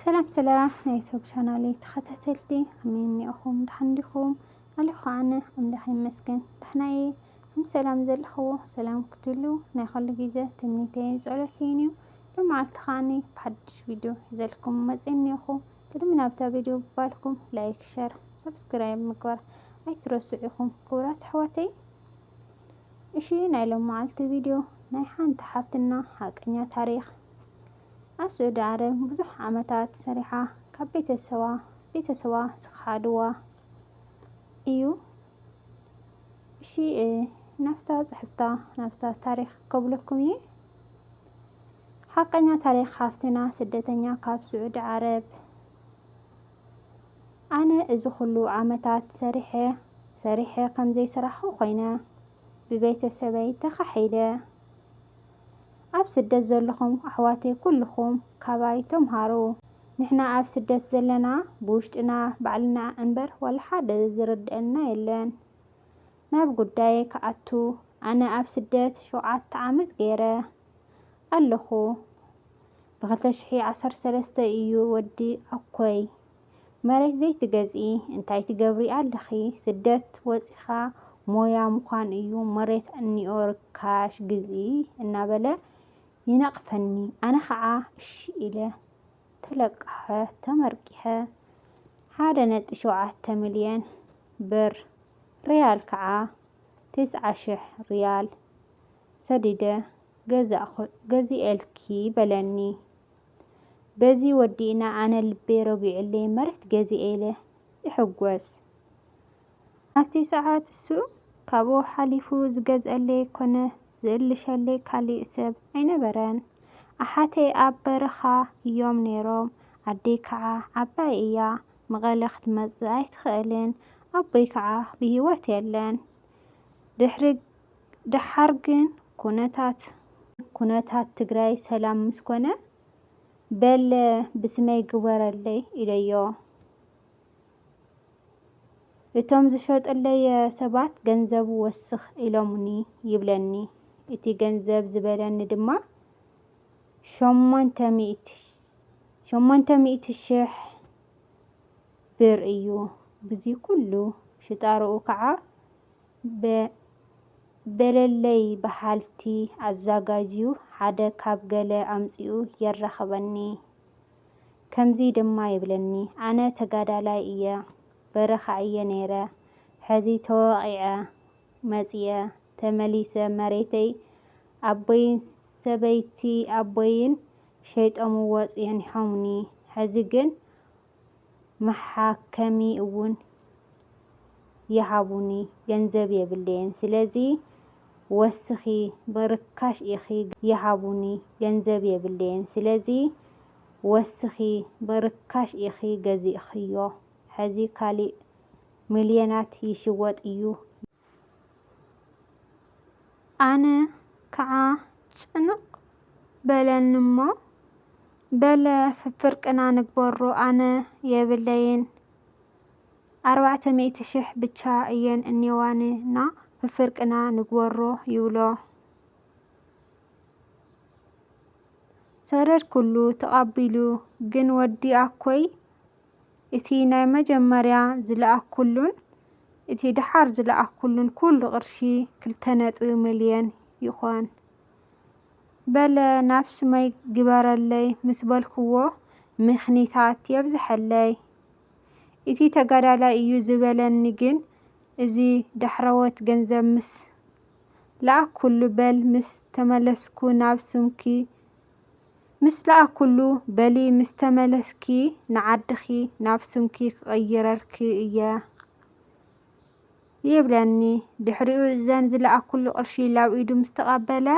ሰላም ሰላም ናይ ዩቱብ ቻናለይ ተኸታተልቲ ከመይ እኒኦኹም ደሓን እንዲኹም ኣለኹ ኣነ ኣምላኽ ይመስገን ደሕና እየ ከም ሰላም ዘለኽዎ ሰላም ክትሉ ናይ ኸሉ ግዜ ትምኒተይን ጸሎተይን እዩ ሎመዓልቲ ከዓኒ ብሓድሽ ቪድዮ ሒዘልኩም መፅእ እኒኦኹ ቅድሚ ናብታ ቪድዮ ባልኩም ላይክ ሸር ሰብስክራይብ ምግባር ኣይትረስዑ ኢኹም ክቡራት ኣሕዋተይ እሺ ናይ ሎመዓልቲ ቪድዮ ናይ ሓንቲ ሓፍትና ሓቀኛ ታሪክ ኣብ ስዑዲ ዓረብ ብዙሕ ዓመታት ሰሪሓ ካብ ቤተሰባ ቤተሰባ ዝኸሓድዋ እዩ እሺ ናፍታ ጽሕፍታ ናፍታ ታሪክ ከብለኩም እየ ሓቀኛ ታሪክ ሓፍትና ስደተኛ ካብ ስዑዲ ዓረብ ኣነ እዚ ኩሉ ዓመታት ሰሪሐ ሰሪሐ ከም ዘይሰራሕኹ ኮይነ ብቤተሰበይ ተኻሒደ ኣብ ስደት ዘለኹም ኣሕዋተይ ኩሉኹም ካባይ ተምሃሩ ንሕና ኣብ ስደት ዘለና ብውሽጥና ባዕልና እንበር ዋላ ሓደ ዝርደኣና የለን ናብ ጉዳየይ ክኣቱ ኣነ ኣብ ስደት ሸውዓተ ዓመት ገይረ ኣለኹ ብ ክልተ ሽሕን ዓሰርተ ሰለስተን እዩ ወዲ ኣኮይ መሬት ዘይትገዝኢ እንታይ ትገብሪ ኣለኺ ስደት ወጺኻ ሞያ ምዃን እዩ መሬት እንኦ ርካሽ ግዝኢ እናበለ ይነቕፈኒ ኣነ ኸዓ እሺ ኢለ ተለቃኸ ተመርቂሐ ሓደ ነጥቢ ሸውዓተ ሚልዮን ብር ሪያል ከዓ ትስዓ ሽሕ ሪያል ሰዲደ ገዛእኩ ገዚኤልኪ በለኒ። በዚ ወዲእና ኣነ ልበይ ረጊዑለይ መሬት ገዚኤ ኢለ እሕጎስ። ኣብቲ ሰዓት እሱ ካብኡ ሓሊፉ ዝገዝኣለይ ኮነ ዝእልሸለይ ካሊእ ሰብ ኣይነበረን። ኣሓተይ ኣብ በረኻ እዮም ነይሮም፣ ኣደይ ከዓ ዓባይ እያ መቐለ ክትመፅእ ኣይትኽእልን፣ ኣቦይ ከዓ ብሂወት የለን። ድሕሪ ደሓር ግን ኩነታት ኩነታት ትግራይ ሰላም ምስ ኮነ በለ ብስመይ ግበረለይ ኢለዮ። እቶም ዝሸጡለይ ሰባት ገንዘቡ ወስኽ ኢሎሙኒ ይብለኒ። እቲ ገንዘብ ዝበለኒ ድማ ሸሞንተ ሚእቲ ሸሞንተ ሚእቲ ሽሕ ብር እዩ። ብዚ ኩሉ ሽጣርኡ ከዓ ብ በለለይ በሃልቲ ኣዛጋጅዩ ሓደ ካብ ገለ ኣምጺኡ የራኽበኒ ከምዚ ድማ ይብለኒ ኣነ ተጋዳላይ እየ በረኻ እየ ነይረ ሕዚ ተወቒዐ መጺኤ ተመሊሰ መሬተይ ኣቦይን ሰበይቲ ኣቦይን ሸይጦምዎ ጼኒሖሙኒ ሕዚ ግን መሓከሚ እውን ይሃቡኒ ገንዘብ የብለየን ስለዚ ወስኪ ብርካሽ ኢኪ ይሃቡኒ ገንዘብ የብለየን ስለዚ ወስኪ ብርካሽ ኢኪ ገዚእክዮ ሐዚ ካሊእ ምልየናት ይሽወጥ እዩ ኣነ ከዓ ጭንቕ በለኒ'ሞ፣ በለ ፍፍርቅና ንግበሮ ኣነ የብለይን ኣርባዕተ ሚእቲ ሽሕ ብቻ እየን እኔዋኒ እና ፍፍርቅና ንግበሮ ይብሎ። ሰደድኩሉ ተቐቢሉ ግን ወዲ ኣኮይ፣ እቲ ናይ መጀመርያ ዝለኣክኩሉን እቲ ደሓር ዝለኣክኩሉን ኩሉ ቅርሺ ክልተ ነጥቢ ምልየን ይኾን። በለ ናብ ስመይ ግበረለይ ምስ በልክዎ ምኽኒታት የብዘሐለይ። እቲ ተጋዳላይ እዩ ዝበለኒ ግን እዚ ዳሕረዎት ገንዘብ ምስ ለኣክኩሉ በል ምስ ተመለስኩ ናብ ስምኪ ምስ ለኣኩሉ በሊ ምስ ተመለስኪ ንዓድኪ ናብ ስምኪ ክቅይረልኪ እየ ይብለኒ ድሕሪኡ እዘን ዝለኣኩሉ ቅርሺ ላብ ኢዱ ምስ ተቀበለ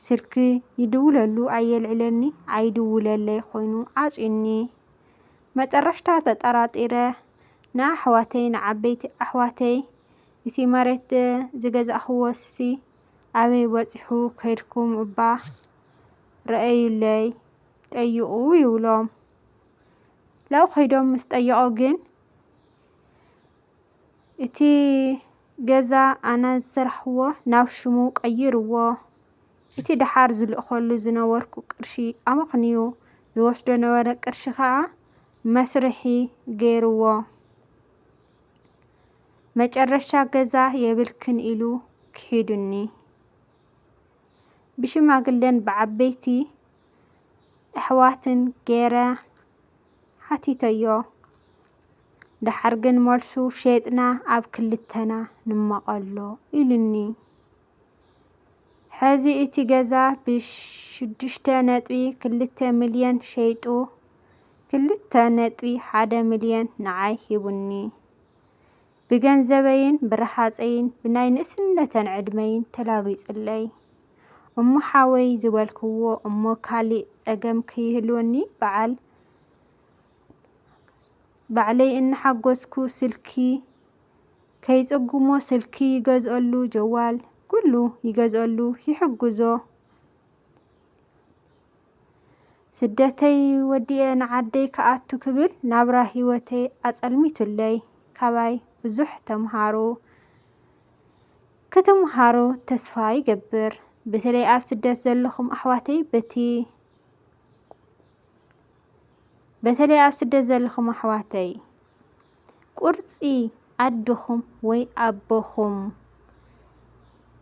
ስልኪ ይድውለሉ ኣየልዕለኒ ኣይድውለለይ ኮይኑ ዓጽዩኒ መጠረሽታ ተጠራጢረ ንኣሕዋተይ ንዓበይቲ ኣሕዋተይ እቲ መሬት ዝገዛእክዎሲ ኣበይ በጺሑ ከይድኩም እባ ርኣዩለይ ጠይቑ ይብሎም። ላው ከይዶም ምስ ጠየቑ ግን እቲ ገዛ ኣና ዝሰራሕዎ ናብ ሽሙ ቀይርዎ እቲ ደሓር ዝልእኸሉ ዝነበርኩ ቅርሺ ኣመኽንዩ ዝወስዶ ነበረ ቅርሺ ከዓ መስርሒ ገይርዎ። መጨረሻ ገዛ የብልክን ኢሉ ክሒዱኒ። ብሽማግለን ብዓበይቲ ኣሕዋትን ገይረ ሓቲተዮ። ደሓር ግን መልሱ ሸይጥና ኣብ ክልተና ንመቐሎ ኢሉኒ። ሐዚ እቲ ገዛ ብ ሽዱሽተ ነጥቢ ክልተ ሚልየን ሸይጡ ክልተ ነጥቢ ሓደ ሚልየን ንዓይ ሂቡኒ ብ ገንዘበይን ብ ራሃፀይን ብ ናይ ንእስነተን ዕድመይን ተላጊፁለይ እሞ ሓወይ ዝበልክዎ እሞ ካሊእ ፀገም ከይህልወኒ ባዓል ባዕለይ እናሓጎስኩ ስልኪ ከይጽጉሞ ስልኪ ይገዝኦሉ ጀዋል ኩሉ ይገዝኦሉ ይሕግዞ ስደተይ ወዲኤ ንዓደይ ክኣቱ ክብል ናብራ ሂወተይ ኣጸልሚቱለይ ካባይ ብዙሕ ተምሃሩ ክትምሃሩ ተስፋ ይገብር ብተለይ ኣብ ስደት ዘለኹም ኣሕዋተይ በቲ በተለይ ኣብ ስደት ዘለኹም ኣሕዋተይ ቁርፂ ኣድኹም ወይ ኣቦኹም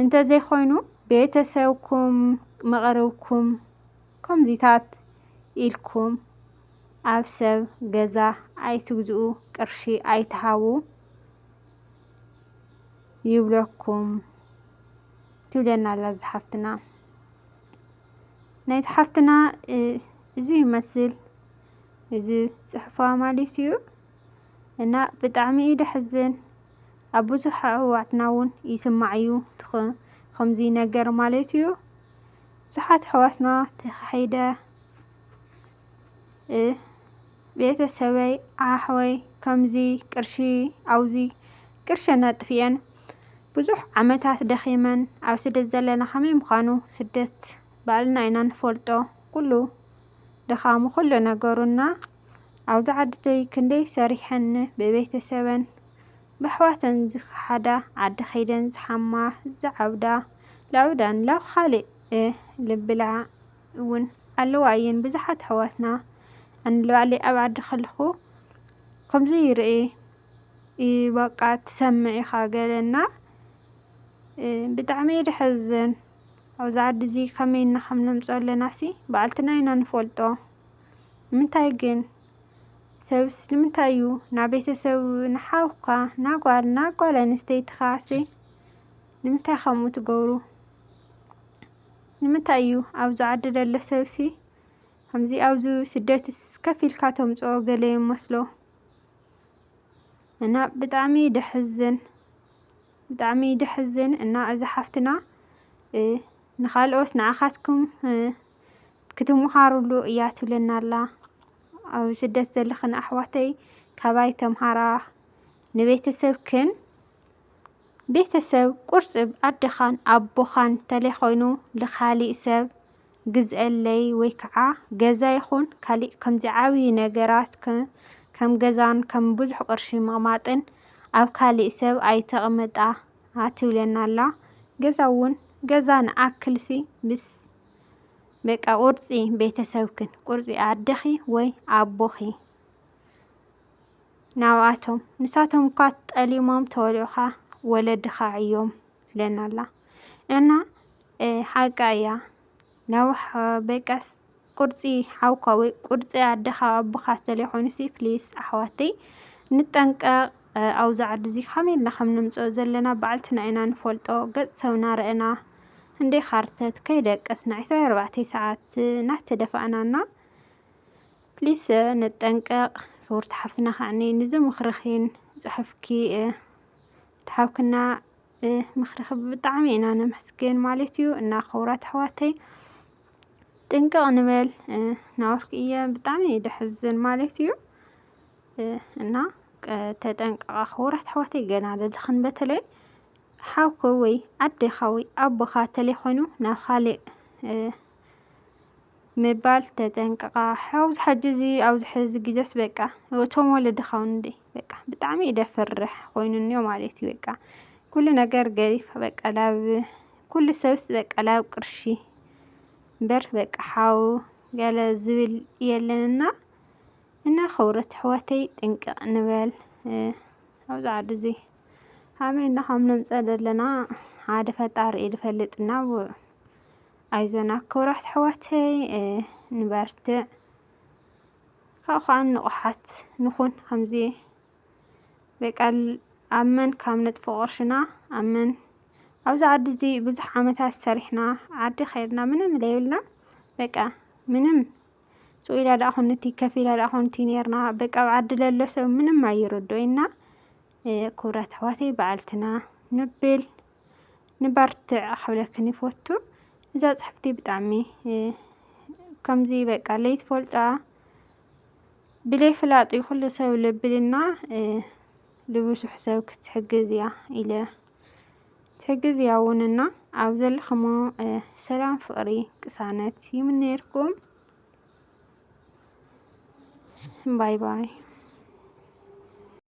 እንተዘይኮይኑ ቤተሰብኩም መቐርብኩም ከምዚታት ኢልኩም ኣብ ሰብ ገዛ ኣይትግዝኡ ቅርሺ ኣይትሃቡ ይብለኩም ትብለና ኣላ ዝሓፍትና ናይታ ሓፍትና እዚ ይመስል እዚ ፅሑፋ ማለት እዩ እና ብጣዕሚ እዩ ደሕዝን ኣብ ብዙሕ ኣሕዋትና እውን ይስማዕ እዩ ከምዚ ነገር ማለት እዩ ብዙሓት ኣሕዋትና ተኻሒደ ቤተሰበይ ኣሕወይ ከምዚ ቅርሺ ኣውዚ ቅርሸን ኣጥፊኤን ብዙሕ ዓመታት ደኺመን ኣብ ስደት ዘለና ከመይ ምዃኑ ስደት ባዕልና ኢና ንፈልጦ ኩሉ ድኻሙ ኩሉ ነገሩ እና ኣብዚ ዓድተይ ክንደይ ሰሪሐን ን ብቤተሰበን በሕዋተን ዝኸሓዳ ዓዲ ከይደን ዝሓማ ዝዓብዳ ለዑዳን ላብ ኻሊእ ልብላ እውን ኣለዋ እየን ብዙሓት ኣሕዋትና ኣንለባዕለይ ኣብ ዓዲ ከለኹ ከምዚ ይርኤ በቃ ትሰምዕ ኢኻ ገለና ብጣዕሚ እየ ድሐዘን ኣብዚ ዓዲ እዚ ከመይ እና ከም ነምፆ ኣለና ሲ በዓልትና ኢና ንፈልጦ ምንታይ ግን ሰብስ ንምንታይ እዩ ናብ ቤተሰብ ንሓውካ ናጓል ናጓል ኣንስተይትኻ ሲ ንምንታይ ከምኡ ትገብሩ ንምታይ እዩ ኣብዚ ዓዲ ደሎ ሰብሲ ከምዚ ኣብዚ ስደትስ ከፍ ኢልካ ተምጽኦ ገለ ይመስሎ እና ብጣዕሚ ደሕዝን ብጣዕሚ ደሕዝን እና እዚ ሓፍትና ንኻልኦት ንዓኻትኩም ክትምሃሩሉ እያ ትብለና ኣላ ኣብ ስደት ዘለኽን ኣሕዋተይ ካባይ ተምሃራ ንቤተሰብክን ቤተሰብ ቁርፅብ ኣደኻን ኣቦኻን ተለይኾይኑ ልኻሊእ ሰብ ግዝኣለይ ወይ ከዓ ገዛ ይኹን ካሊእ ከምዚ ዓብዪ ነገራት ከም ገዛን ከም ብዙሕ ቅርሺ ምቕማጥን ኣብ ካሊእ ሰብ ኣይተቕምጣ ትብለና ኣላ። ገዛ እውን ገዛ ንኣክልሲ ምስ በቃ ቁርፂ ቤተሰብክን ቁርፂ ኣደኺ ወይ ኣቦኺ ናብኣቶም ንሳቶም እኳ ጠሊሞም ተወልዑኻ ወለድኻ ዕዮም ትብለና ኣላ እና ሓቃ እያ ናብ በቃስ ቁርፂ ሓውካ ወይ ቁርፂ ኣደኻ ኣቦኻ ዝተለየ ኮይኑሲ ፕሊስ ኣሕዋተይ ንጠንቀቕ ኣብዚ ዓዲ እዚ ከመይ ኢልና ከም ንምፅኦ ዘለና በዓልትና ኢና ንፈልጦ ገፅ ሰብና ረእና እንዴ ካርተት ከይደቀስና ዕስራ ኣርባዕተ ሰዓት ናተደፋእናና ፕሊስ ንጠንቀቅ ክብርቲ ሓፍትና ከዕኒ ንዚ ምክርኪን ፅሑፍኪ ትሓብክና ምክርኪ ብጣዕሚ ኢና ነመስግን ማለት እዩ እና ክብራት ኣሕዋተይ ጥንቅቅ ንበል ናወርክ እየ ብጣዕሚ እዩ ደሕዝን ማለት እዩ እና ተጠንቀቃ ክብራት ኣሕዋተይ ገና ለድክን በተለይ ሓውክ ወይ ኣዴካ ወይ ኣቦካ ተለይኮይኑ ናብ ካሊእ ምባል ተጠንቀቃ ሐውዝ ሐጂ እዚ ኣብዚ ሐዚ ግዜስ በቃ እቶም ወለድኻ እውን እንዴ በቃ ብጣዕሚ እዩ ደፍርሕ ኮይኑ እኒኦ ማለት እዩ በቃ ኩሉ ነገር ገሪፍ በቃ ላብ ኩሉ ሰብስ በቃ ላብ ቅርሺ እምበር በቃ ሓው ገለ ዝብል የለንና እና ክብረት ኣሕዋተይ ጥንቅቅ ንበል ኣብዚ ዓዱ እዚ ኣመና ከም ነምፀእ ዘለና ሓደ ፈጣሪ እዩ ዝፈልጥ እና ኣይዞና ክብራት ኣሕዋተይ ንበርትዕ ካብኡ ከዓ ንቑሓት ንኹን ከምዚ በቃ ኣብ መን ካብ ነጥፎ ቅርሽና ኣብ መን ኣብዚ ዓዲ እዚ ብዙሕ ዓመታት ሰሪሕና ዓዲ ከይድና ምንም ዘይብልና በቃ ምንም ስኢላ ዳኣ ኮንቲ ከፊላ ዳኣ ኮንቲ ነርና በቃ ኣብ ዓዲ ለሎ ሰብ ምንም ኣይርድኦይና ክብራት ኣሕዋተይ በዓልትና ንብል ንበርትዕ ክብለክን ይፈቱ እዛ ጽሕፍቲ ብጣዕሚ ከምዚ በቃ ለይትፈልጣ ብለይ ፍላጥ እዩ ኩሉ ሰብ ልብልና ልብሱሕ ሰብ ክትሕግዝ እያ ኢለ ትሕግዝ እያ ውንና ኣብ ዘለኽሞ ሰላም ፍቅሪ ቅሳነት ይምነየልኩም ባይ ባይ